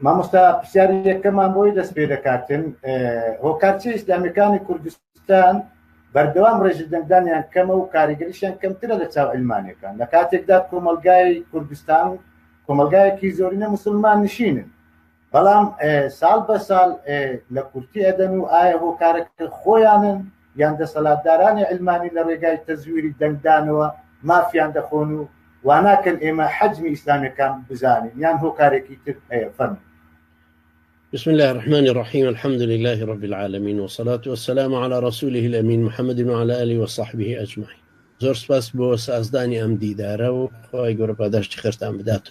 مامۆستا پرسیاری یەکەمان بۆی دەست پێ دەکاتن هۆکارچی ئیسلامیەکانی کوردستان بەردەوام ڕێژ دەنگدانیان کەمە و کاریگەریشیان کەمترە لە چاو علمانەکان لە کاتێکدا کۆمەلگای کوردستان کۆمەلگایەکی زۆرینە مسلمان نشینن بەڵام ساڵ بە ساڵ لە کورتی ئەدەن و ئایا هۆکارەکە خۆیانن یان دەسەلاتدارانی عیلمانی لە رێگای تەزویری دەنگدانەوە مافیان دەخۆن و واناکەن ئێمە حەجمی ئیسلامیەکان بزانین یان هۆکارێکی تر هەیە فەرموو. بسم الله الرحمن الرحيم الحمد لله رب العالمين والصلاة والسلام على رسوله الأمين محمد وعلى آله وصحبه أجمعين زۆر سپاس بۆ سازدانی ئەم دیدارە و خۆی گەورە پاداشتی خێرتان بدات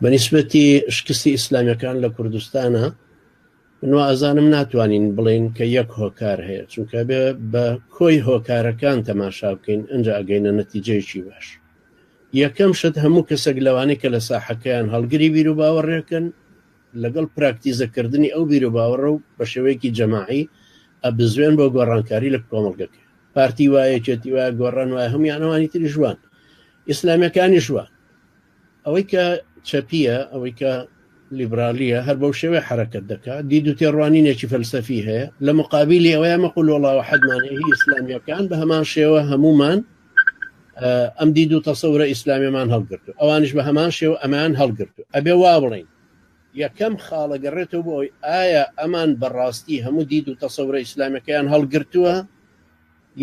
بەنیسبەتی شکستی ئیسلامیەکان لە کوردستانە من وازانم ناتوانین بڵین کە یەک هۆکار هەیە چونکە بێ بە کۆی هۆکارەکان تەماشا بکەین ئەنج ئەگەینە نەتیجەیەکی باش یەکەم شت هەموو کەسێک لەوانەیە کە لە ساحەکەیان هەڵگری بیر و باوەڕێکن لەگەڵ پراکتیزەکردنی ئەو بیر و باوەڕە و بە شێوەیەکی جەماعی ئەبزوێن بۆ گۆڕانکاری لە کۆمەڵگەکە پارتی وایەکێتی وایە گۆڕان وایە هەمویانەوانی تری ژوان ئیسلامیەکانی ژوان ئەوەی کە چەپییە ئەوەی کە لیبرالیە هەر بەو شێوێ حرەکەت دەکات دید و تێڕوانینێکی فەلسەفی هەیە لە مقابلی ئەوەیە مەقول وڵاوە حەدمانەی ئیسلامیەکان بە هەمان شێوە هەمومان ئەم دید و تەسەورە ئیسلامیمان هەڵگرت و ئەوانش بە هەمان شێوە ئەمان هەڵگرت و ئەبێ وا بڵین یەکەم خاڵە گەڕێتەوە بۆی ئایا ئەمان بەڕاستی هەموو دید و تەسەورە ئیسلامەکەیان هەڵگرتووە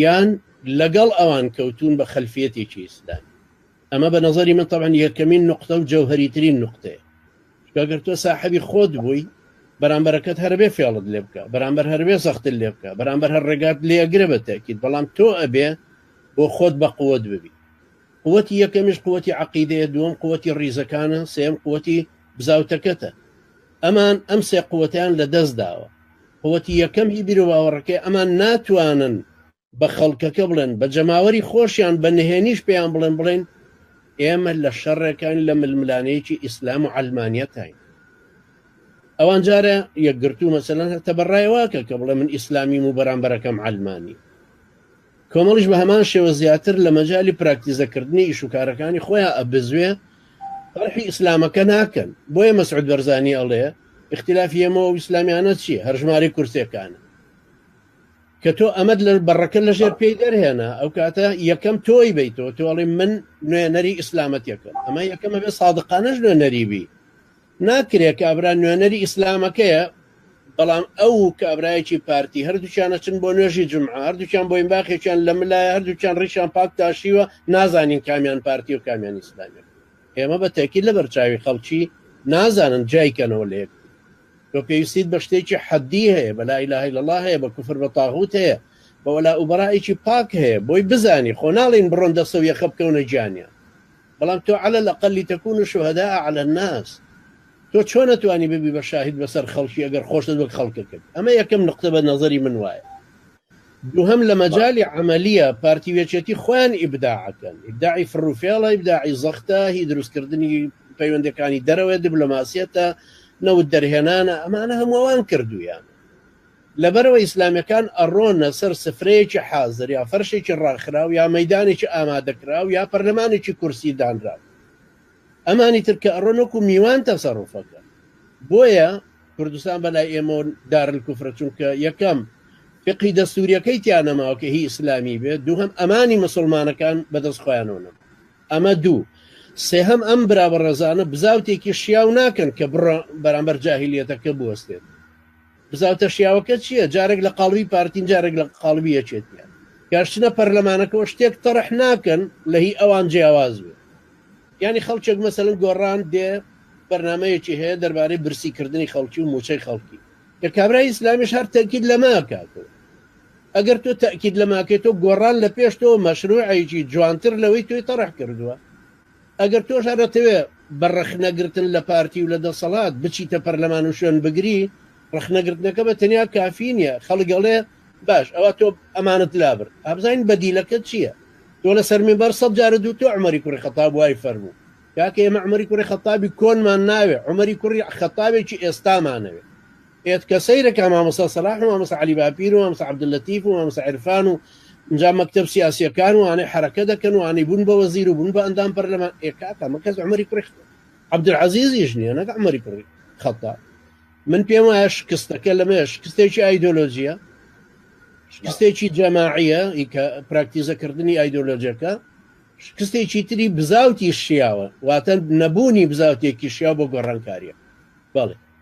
یان لەگەڵ ئەوان کەوتوون بە خەلفیەتێکی ئیسلامی ئەمە بە نەزەری من تەبعەن یەکەمین نوقتە و جەوهەریترین نوقتەیە چونکە گەر تۆ ساحەبی خۆت بووی بەرامبەرەکەت هەربێ فێڵت لێ بکە بەرامبەر هەربێ زەختت لێ بکە بەرامبەر هەر ڕێگات لێ ئەگرە بە تاکیت بەڵام تۆ ئەبێ بۆ خۆت بە قوت ببی قوتی یەکەمیش قوتی عقیدەیە دووەم قوتی ڕیزەکانە سێم قوتی بزاوتەکەتە ئەمان ئەم سێ قوتەیان لە دەست داوە. قوتی یەکەم هی بیروباوەڕەکەی ئەمان ناتوانن بە خەڵکەکە بڵێن، بە جەماوەری خۆشیان، بە نهێنیش پێیان بڵێن بڵێن ئێمە لە شەڕێکاین لە ململانێیەکی ئیسلام و عەلمانیەتاین. ئەوان جارە یەکگرتوو مەسەلەن هەر تەبەڕای واکە کە بڵێ من ئیسلامیم و بەرامبەرەکەم عەلمانی. کۆمەڵیش بەهەمان شێوە زیاتر لە مەجالی پراکتیزە کردنی ئیش و کارەکانی خۆیان ئەبزوێ طرحی ئیسلامەکە ناکەن بۆیە مەسعود بەرزانی ئەڵێ اختلافی ئێمەوە ئیسلامیانە چی هەرژماری کورسەکانە کە تۆ ئەمەد لە بەڕەکە لە ژێر پێی دەرهێنا ئەو کاتە یەکەم تۆی بیتەوە تۆڵی من نوێنەری ئیسلامەتەکەم ئەمە یەکەمە بێ سادقانەش نوێنەریبی ناکرێ کابرا نوێنەری ئیسلامەکەیە بەڵام ئەو و کابرایەکی پارتی هەردووکیان ئەچن بۆ نوێژی جومعە هەردووکیان بۆینباخێکیان لە ملایە هەردووکیان ڕیشیان پاک تاشیوە نازانین کامیان پارتی و کامیان ئیسلامیان ئێمە بە تەکی لە بەرچاوی خەڵکی نازانن جیایکەنەوە لە یەکتر تۆ پێویستیت بە شتێکی حەدی هەیە بە لا اله الا الله هەیە بە کوفر بە طاغوت هەیە بە وەلا و بەرائێکی پاک هەیە بۆی بزانی خۆ ناڵێین بڕۆن دەستە و یەخە بکەونە گیانیان بەڵام تۆ عەلە لەقەل لیتەکونو شوهەداء علی الناس تۆ چۆن ئەتوانی ببی بە شاهید بەسەر خەڵکی ئەگەر خۆشت وەک خەڵکە کرد ئەمە یەکەم نقطە بە نەزەری من وایە دووهەم لە مەجالی عەمەلیە پارتی وێچێتی خۆیان ئیبداع ئەکەن ئیبداعی فڕوفێڵە ئیبداعی زەختە هی دروستکردنی پەیوەندەکانی دەرەوەی دیبلۆماسیەتە نەوت دەرهێنانە ئەمانە هەمووەوان کردوویانە لەبەرئەوە ئیسلامیەکان ئەڕۆنە سەر سفرەیەکی حازر یا فەرشێکی ڕاخراو یا مەیدانێکی ئامادەکراو یا پەرلەمانێکی کورسی دانراو ئەمانی تر کە ئەڕۆن وەکو میوان تەسەڕوف ئەکەن بۆیە کوردستان بەلای ئێمەو دارلکوفرە چونکە یەکەم فقهی دەستوریەکەی تیا نەماوە کە هی ئیسلامی بێت دووهەم ئەمانی مسوڵمانەکان بەدەست خۆیانەوە نەما ئەمە دوو سێهەم ئەم برا بەڕێزانە بزاوتێکی شیاو ناکەن کە بڕە بەرامبەر جاهلیەتەکە بوەستێت بزاوتە شیاوەکە چییە جارێک لە قاڵبی پارتین جارێک لە قاڵبی یەکێتیان کاشچنە پەرلەمانەکەەوە شتێک تەڕح ناکەن لە هی ئەوان جیاواز بێت ینی خەڵکێک مەسەن گۆڕان دێ بەرنمەیەکی هەیە دەربارەی برسیکردنی خەڵکی و موچەی خەڵکی کە کابرای ئیسلامیش هەر تەکیید لەماکاتەوە ئەگەر تۆ تاکیید لەماکەێتەوە گۆڕان لە پێش تۆ مەشروعەیەکی جوانتر لەوەی توی تەڕح کردووە ئەگەر تۆش هەر ئەتەوێ بە ڕەخنە گرتن لە پارتی و لە دەسەڵات بچیتە پەرلەمان و شوێن بگری، ڕەخنە گرتنەکە بە تەنیا کافی نیە، خەڵک ئەڵێ باش ئەوا تۆ ئەمانت لابرد، ئا بزانین بەدیلەکەت چیە؟ تۆ لە سەر مینبەر سەد جارە دوو تۆ عومەری کوڕی خەتاب وای فەرموو، کاکە ئێمە عومەری کوڕی خەتابی کۆنمان ناوێ، عومەری کوڕی خەتابێکی ئێستامانەوێ. ئێت کە سەیرە کە مامۆستا سەلاح و مامۆستا عەلی باپیر و مامۆستا عەبدوللەتیف و مامۆستا عرفان و جا مەکتب سیاسیەکان وانەی حرەکە دەکەن وانەی بوون بە وەزیر و بوون بە ئەندام پەرلەمان ئێکاکە مەکەس عمەری کوڕی عەبدولعەزیزیش نییە نەک عمەری کوڕی خەتا من پێم وایە شکستەکە لەمێ شکستێکی ئایدۆلۆژیە شکستێکی جەماعیە کە پراکتیزەکردنی ئایدۆلۆژەکە شکستێکی تری بزاوتی شیاوە واتە نەبوونی بزاوتێکی شیا بۆ گۆڕانکاریە بەڵێ